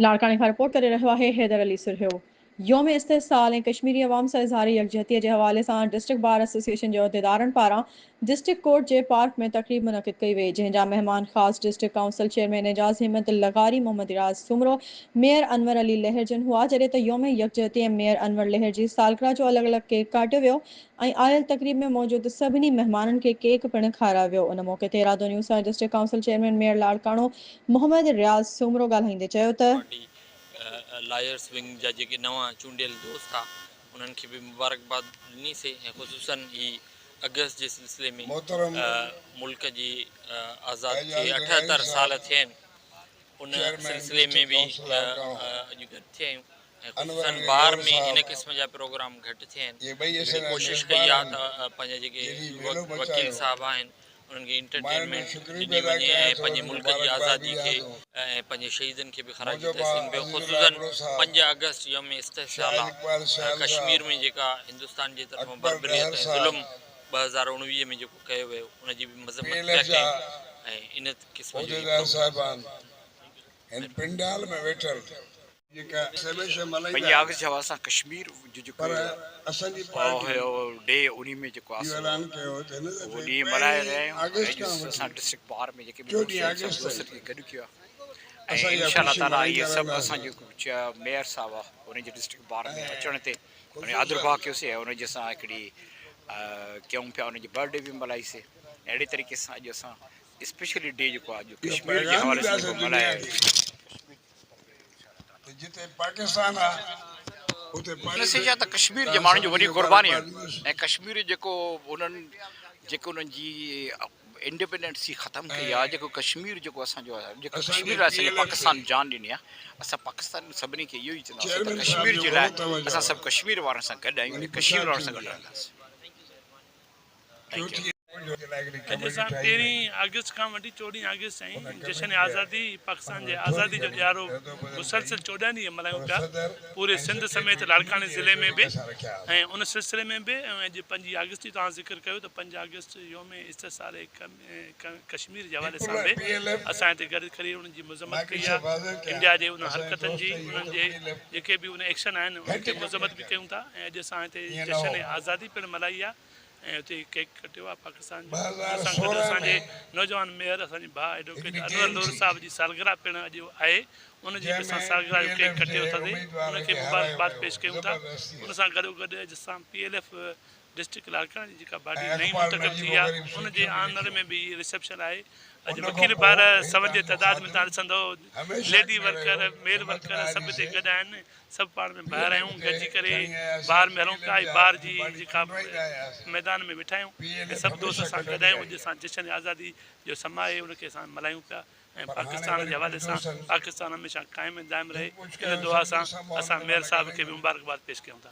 لاڙڪاڻي کان رپورٽ ڪري رهيو آهي حيدر علي سرهيو. يوم استحصال ۽ ڪشميري عوام سان اظهار يڪجهتيء جي حوالي سان ڊسٽرڪٽ بار ايسوسيئيشن جي عهديدارن پاران ڊسٽرڪٽ ڪورٽ جي پارڪ ۾ تقريب منعقد ڪئي وئي جنهن جا مهمان خاص district council chairman Ejaz Himmat لغاري محمد اياز سومرو ميئر انور علي لهرجن هئا جڏهن ته يوم يڪجهتي ۽ ميئر انور لهر جي سالگرهه جو الڳ الڳ ڪيڪ ڪاٽيو ويو ۽ آيل تقريب ۾ موجود سڀني مهمانن کي ڪيڪ پڻ کارايو ويو ان موقعي تي رادو نيوز سان district council chairman mayor Larkana Muhammad Riaz Soomro ڳالهائيندي چيو ته. پارٽي لائرز ونگ جا جيڪي نوان چونڊيل دوست ھئا انھن کي به مبارڪباد ڏني سي ۽ خصوصا ھي اگست جي سلسلي ۾ ملڪ جي آزاد ٿئي اٺهتر سال ٿيا آھن ان سلسلي ۾ به اڄ گڏ ٿيا آھيون خصوصن بار ۾ هن قسم جا پروگرام گهٽ ٿين اهڙي ڪوشش ڪئي آهي ته پنهنجا جيڪي وڪيل صاحب آهن انهن کي انٽرٽينمينٽ ڏني وڃي ۽ پنهنجي ملڪ جي آزادي کي ۽ پنهنجي شهيدن کي به خراج تحسين پيو خصوصن پنج آگسٽ يوم استحصال آهي ڪشمير ۾ جيڪا هندستان جي طرفان بربريت ۽ ظلم ٻه هزار اڻويهه ۾ جيڪو ڪيو ويو ان جي به مذمت پيا ڪين ۽ ان قسم جي پنهنجي آخري جواب سان ڪشمير جو جيڪو پاء هيو ڊي انهي ۾ جيڪو آسو اهو ڏينهن ملهائي رهيا آهيون ۽ اڄ اسان ڊسٽرڪٽ پار ۾ جيڪي به دوست آهن سڀ دوستن کي گڏ ڪيو آهي ۽ انشاء الله تعالي اهي سڀ اسان جي جيڪو ميئر صاحب آهي انهي جي ڊسٽرڪٽ پار ۾ اچڻ تي انهي آدرڀاء ڪيوسي ۽ انهي جي اسان هڪڙي ڪيون پيا انهي جي برٿ ڊي به ملهائي سي اهڙي طريقي سان اڄ اسان اسپيشلي ڊي جيڪو آهي اڄ ڪشمير جي حوالي سان جيڪو ملهايو ويو ڪشمير جي ماڻهن جي وڏي قرباني آهي ۽ ڪشمير جيڪو انهن جيڪو انهن جي انڊيپينڊنسي ختم ڪئي آهي جيڪو ڪشمير جيڪو اسان جو آهي جيڪو ڪشمير لاء اسان پاڪستان جان ڏني آهي اسان پاڪستان سڀني کي اهو ئي چونداسين ته ڪشمير جي لاء اسان سڀ ڪشمير وارن سان گڏ آهيون ۽ ڪشمير وارن سان گڏ رهنداسين ٿيو. اڄ سان تيرهين آگسٽ کان وٺي چوڏهين آگسٽ تائين جشن آزادي پاڪستان جي آزادي جو ڏيارو مسلسل چوڏهن ڏينهن ملهايون پيا پوري سنڌ سميت لاڙڪاڻي ضلعي ۾ به ۽ ان سلسلي ۾ به ۽ اڄ پنجين آگسٽ جي توهان ذڪر ڪيو ته پنج آگسٽ يوم استحصال ڪشمير جي حوالي سان به اسان هتي گڏ ڪري انهن جي مذمت ڪئي آهي انڊيا جي انهن حرڪتن جي انهن جي جيڪي به ان ايڪشن آهن انهن جي مذمت به ڪيون ٿا ۽ اڄ اسان هتي جشن آزادي پڻ ملهائي آهي ۽ اتي ئي ڪيڪ ڪٽيو آهي پاڪستان جو ان سان گڏ اسان جي نوجوان ميئر اسان جي ڀاء ايڊووڪيٽ انور نور صاحب جي سالگرهه پڻ اڄ آهي ان جي به اسان سالگرهه جو ڪيڪ ڪٽي اتي ان کي مبارڪباد پيش ڪيون ٿا ان سان گڏو گڏ اڄ اسان پي ايل ايف ڊسٽرڪٽ لاڙڪاڻي جي جيڪا باڊي نئين منتخب ٿي آهي ان جي آنر ۾ به اهي رسيپشن آهي اڄ وڪيل ڀائر سون جي تعداد ۾ تهان ڏسندو ليڊي ورڪر ميل ورڪر سڀ اتي گڏ آهن سڀ پاڻ ۾ ڀائر آهيون گڏجي ڪري بار ۾ هلون پيا ۽ بار جي جيڪا ميدان ۾ ويٺا آهيون ۽ سڀ دوست اسان گڏ آهيون اڄ اسان جشن آزادي جو سماء آهي ان کي اسان ملهايون پيا ۽ پاڪستان جي حوالي سان پاڪستان هميشه قائم ۽ دائم رهي ان دعا سان اسان مير صاحب کي به مبارڪباد پيش ڪيون ٿا